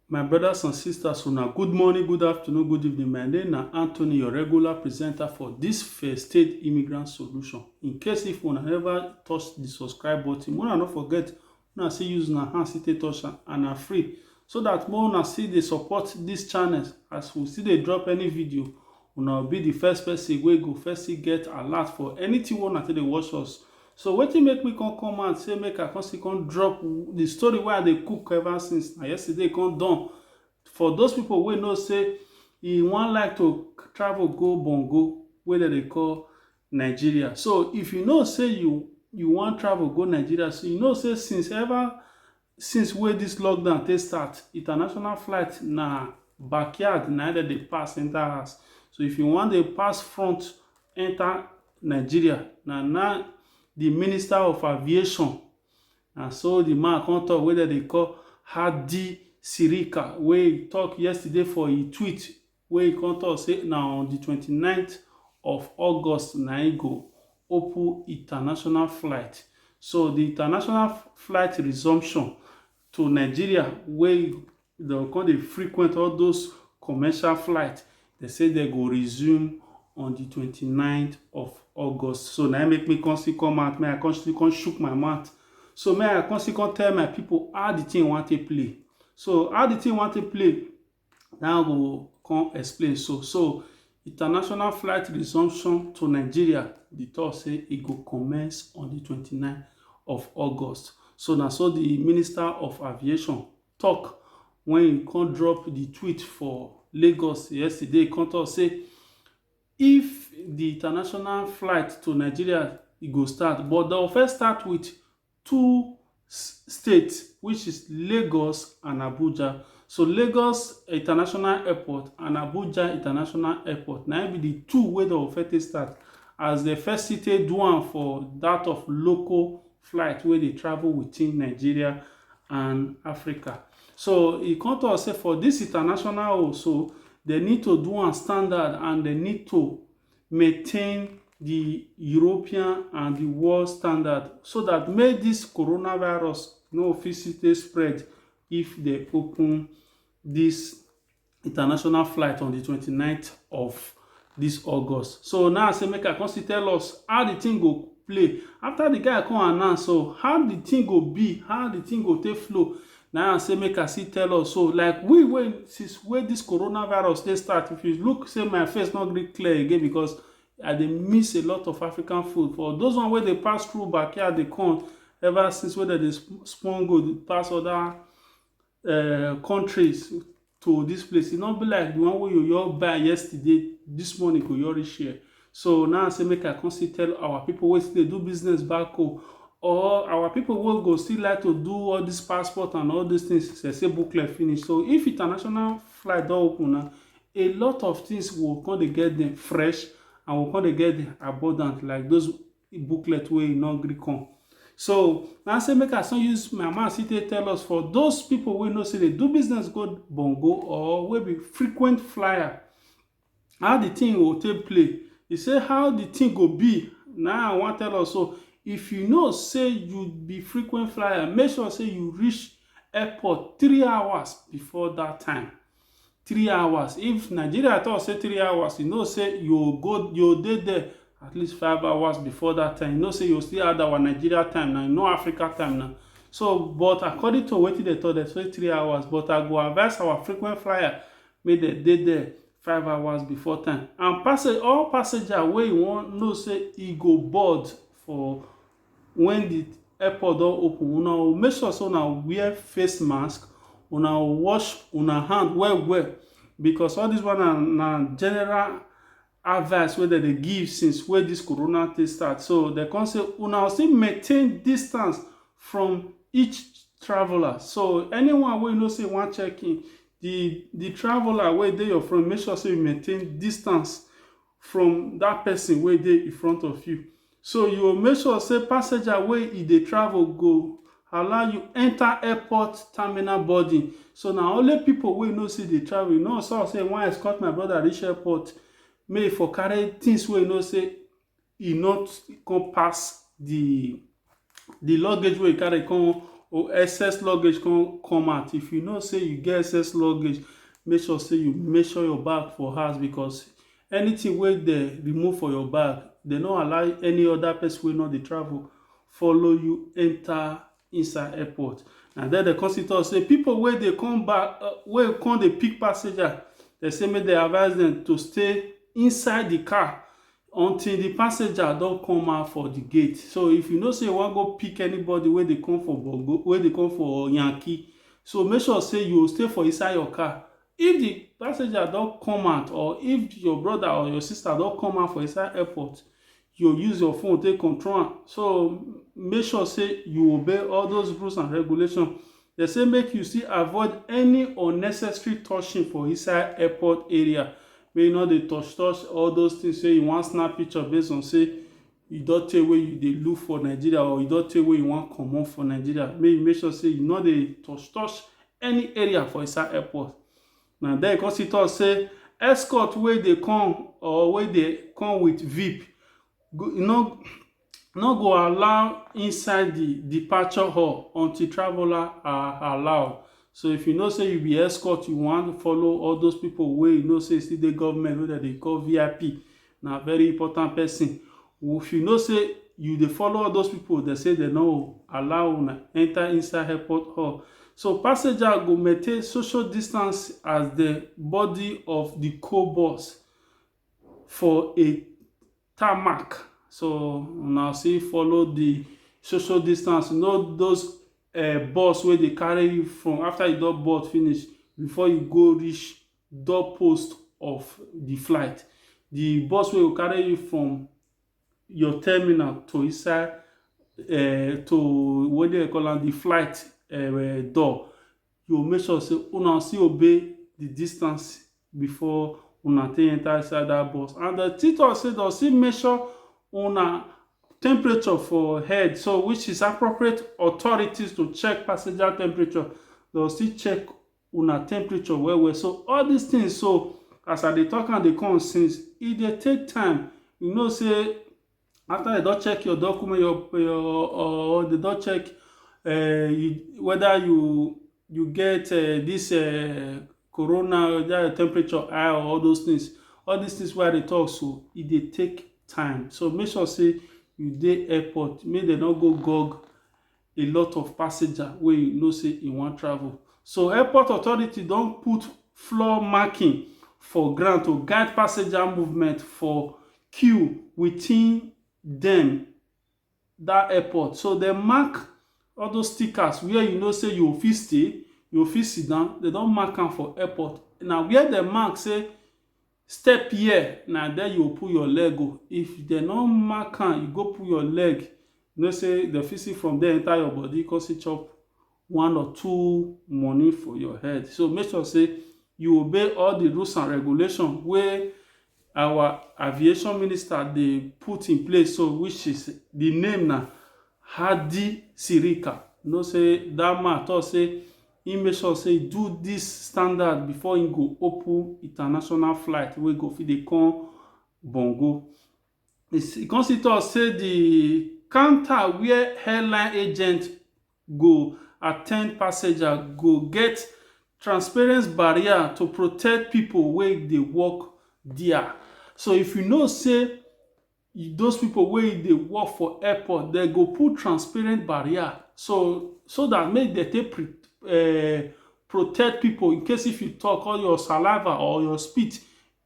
My brothers and sisters, una good morning, good afternoon, good evening. My name na Anthony, your regular presenter for this First State Immigrant Solution. In case if una never touch the subscribe button, una no forget, una still use una hand still take touch am and na free. So that more una still dey support this channel as we still dey drop any video Una will be the first person wey go first get alert for anything wey una take dey watch us. So wetin make me come come out say make I come still come drop the story wey I dey cook ever since na yesterday come done. For those people wey know say e wan like to travel go Bongo wey dem dey call Nigeria. So if you know say you you wan travel go Nigeria, so you know say since ever Since wey dis lockdown take start, international flight na backyard na im dem dey pass enter house. So if you wan dey pass front enter Nigeria, na na the minister of aviation, na so the man come talk wey dem dey call Hadi Sirika wey talk yesterday for e tweet wey e come talk say na on di twenty ninth of August na im go open international flight. So di international flight resumption to Nigeria wey dem go come dey frequent all those commercial flight, dem say dem go resume on di twenty ninth of August. So na im make me come still come out, make I come still come shook my mouth. So make I come still come tell my pipu how di thing wan take play. So how di thing wan take play Now go come explain so. So international flight resumption to Nigeria, the talk say e go commence on the 29th of August. So na so the Minister of Aviation talk when he come drop the tweet for Lagos yesterday. He come talk say if the international flight to Nigeria e go start, but they'll first start with two state which is Lagos and Abuja. So Lagos International Airport and Abuja International Airport na be the two wey don first take start as the first city do am for that of local flight wey dey travel within Nigeria and Africa. So e come talk say for this international also they need to do am standard and they need to maintain di European and di world standard so dat make dis coronavirus no fit still take spread if dem open dis international flight on di twenty ninth of dis August. So now I say make I come still tell us how di thing go play after di guy come announce so how di thing go be, how di thing go take flow Na im I say make I still tell us so, like we wey since wey this coronavirus take start, if you look say my face no gree clear again because I dey miss a lot of African food. For those one wey dey pass through backyard dey come ever since wey dem dey spon go pass other um countries. to this place e no be like the one wey you your buy yesterday this morning go your reach here so now i say make i come still tell our people wey still dey do business back home or our people wey go still like to do all this passport and all these things they say booklet finish so if international flight don open now a lot of things will come dey get them fresh and will come dey get them abundant like those booklet wey e no gree come so na say make i so use my mouth see take tell us for those people wey know say dey do business go bongo or wey be frequent flyer how the thing go take play e say how the thing go be na i wan tell us so if you know say you be frequent flyer make sure say you reach airport three hours before that time three hours if nigeria talk say three hours you know say you go you dey there at least five hours before that time you know say you still add our nigeria time now no africa time now so but according to wetin dem talk dem say three hours but i go advise our frequent flyer make dem dey there five hours before time and passage all passenger wey you wan know say e go board for when the airport don open una go make sure say una wear face mask una go wash una hand well well because all this one na na general advice wey dem dey give since wey this corona thing start so dem come say una go still maintain distance from each traveller so anyone wey you know say you wan check in the the traveller wey dey your front make sure say you maintain distance from that person wey dey in front of you. So you go make sure say passenger wey e dey travel go allow you enter airport terminal boarding. So na only people wey know say dey travel. You know so say I wan escort my brother reach airport make e for carry things wey you know say e not come pass the the luggage wey you carry come or excess luggage come come out if you know say you get excess luggage make sure say you make sure your bag for house because anything wey dey remove for your bag dey no allow any other person wey no dey travel follow you enter inside airport na there dey come still talk say people wey dey come back uh, wey come dey pick passenger dey say make dey advise them to stay inside the car until di passenger don come out for di gate so if you know say you wan go pick anybody wey dey come for bongo wey dey come for yankee so make sure say you stay for inside your car if di passenger don come out or if your brother or your sister don come out for inside airport you use your phone take control am so make sure say you obey all those rules and regulations Dem say make you still avoid any unnecessary touching for inside airport area. Make you no dey touch touch all those things say you wan snap picture based on say you don tey wey you dey look for Nigeria or you don tey wey you wan comot for Nigeria. Make you make sure say you no dey touch touch any area for inside airport. Na there e come still talk say escort wey dey come or wey dey come with VIP, e no no go allow inside the departure hall until traveler are allowed so if you know say you be escort you wan follow all those people wey you know say still dey government wey dem dey call vip na very important person if you know say you dey follow all those people dem say dem no allow una enter inside airport hall so passenger go maintain social distance as the body of the co-boss for a tarmac so una see follow the social distance you know those uh, bus wey dey carry you from after you don board finish before you go reach door post of the flight the bus wey go carry you from your terminal to inside uh, to what they call am the flight uh, door you go make sure sey una still obey the distance before una take enter inside that bus and dem still talk sey dem still make sure una temperature for head so which is appropriate authorities to check passenger temperature dem still check una temperature well well so all these things so as i dey talk am dey come since e dey take time you know sey after dem don check your document your your or dem don check um whether you you get um this um corona whether your temperature high or all those things all these things wey I dey talk so e dey take time so make sure say you dey airport make dem no go gug a lot of passenger wey you know say e wan travel. So airport authority don put floor marking for ground to guide passenger movement for queue within dem that airport. So dem mark all those stickers where you know say you go fit stay, you go fit sit down, dem don mark am for airport. Na where dem mark say Step here na there you go put your leg o. If dem no mark am, you go put your leg, you know say dem fit see from there enter your body come still chop one or two money for your head. So make sure say you obey all the rules and regulation wey our aviation minister dey put in place so which is the name na Hadi Sirika. You know say that man talk say Im make sure say e do dis standard before im go open international flight wey go fit dey come Bongo. E come still talk say di counter where airline agent go attend passenger go get transparent barrier to protect pipo wey dey work dia. So if you know say those people wey dey work for airport dem go put transparent barrier so so that make dem take pre, uh, protect people in case if you talk all your saliva or your spit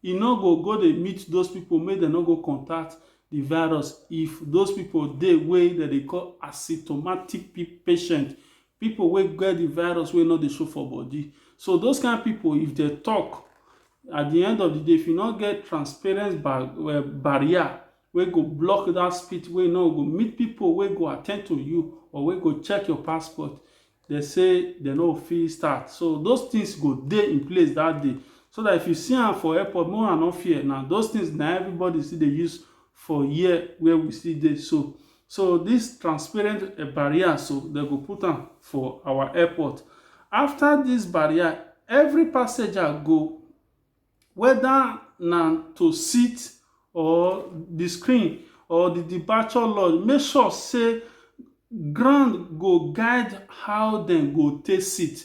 e no go go dey meet those people make dem no go contact the virus if those people dey wey dem dey call asymptomatic patient people wey get the virus wey no dey show for body so those kind people if they talk at the end of the day if you no get transparent bar uh, barrier wey go block that spit wey no go meet people wey go attend to you or wey go check your passport they say they no fit start so those things go dey in place that day so that if you see am for airport no one no fear na those things na everybody still dey use for here where we still dey so so this transparent eh, barrier so they go put am for our airport after this barrier every passenger go whether na to sit or the screen or the departure lodge make sure say ground go guide how dem go take sit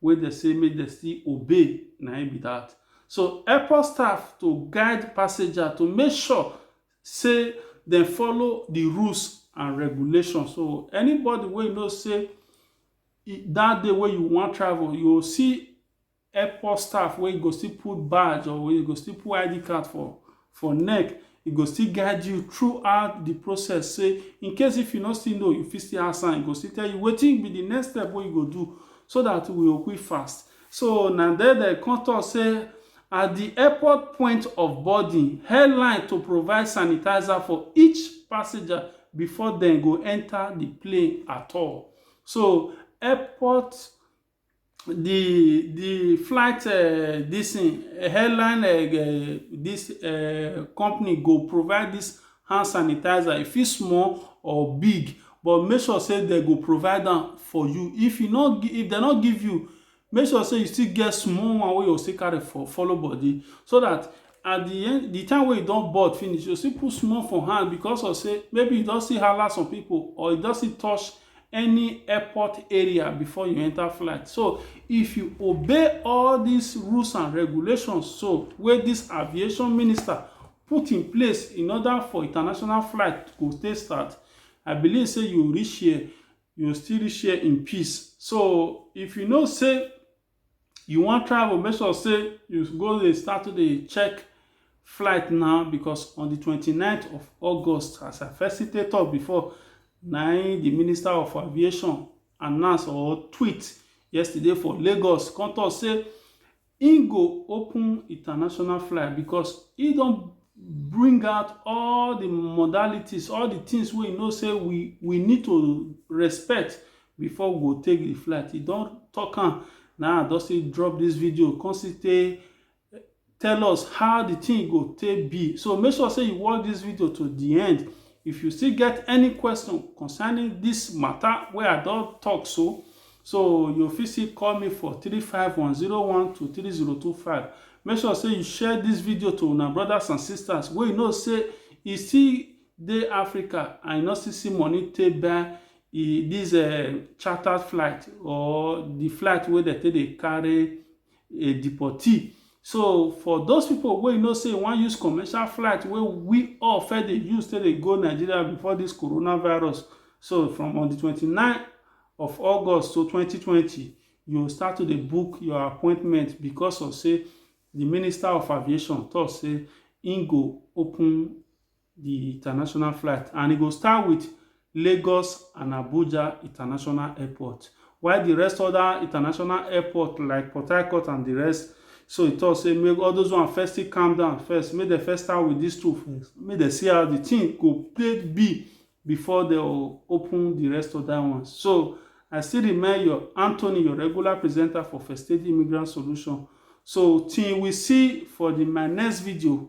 wey dem say make dem still obey na im be that. So airport staff to guide passenger to make sure say dem follow the rules and regulation. So anybody wey you know say that day wey you wan travel, you go see airport staff wey go still put badge or wey go still put ID card for for neck, e go still guide you throughout the process say in case if you no still know you fit still ask am e go still tell you wetin be the next step wey you go do so that we go quick fast so na there dem come talk say at the airport point of boarding airline to provide sanitizer for each passenger before dem go enter the plane at all so airport the the flight uh, this thing, airline uh, this uh, company go provide this hand sanitizer if it's small or big but make sure say they go provide them for you if you not if they not give you make sure say you still get small one wey you still carry for follow body so that at the end the time wey you don board finish you still put small for hand because of say maybe you don see hala some people or you don see touch any airport area before you enter flight. So if you obey all these rules and regulations so wey this aviation minister put in place in order for international flight to take start, I believe say you reach here, you still reach here in peace. So if you know say you wan travel, make sure sey you go dey start to dey check flight now because on the twenty nine of August as I first still take talk before na im the Minister of Aviation announce or tweet yesterday for Lagos come talk say im go open international flight because e don bring out all the modalities, all the things wey e know say we we need to respect before we go take the flight he don talk am na i don still drop this video come still take tell us how the thing go take be so make sure say you watch this video to the end if you still get any question concerning this matter wey i don talk so so you fit still call me for three five one zero one two three zero two five. make sure say you share this video to una brothers and sisters wey you know say e still dey africa and you no still see money take buy e this uh, chartered flight or the flight wey dem take dey carry a deportee so for those people wey you know say wan use commercial flight wey we all first dey use take dey go nigeria before this coronavirus so from on the 29 of august to 2020 you start to dey book your appointment because of say the minister of aviation talk say im go open di international flight and e go start wit Lagos and Abuja international airport while di rest oda international airport like Port Harcourt and di rest so e tok say make all those one first still calm down first make dem first start wit dis two first make dem see how di tin go take be before dem open di rest oda ones so I still remain your Anthony your regular presenter for First Aid Immigrant Solution so till we see for di my next video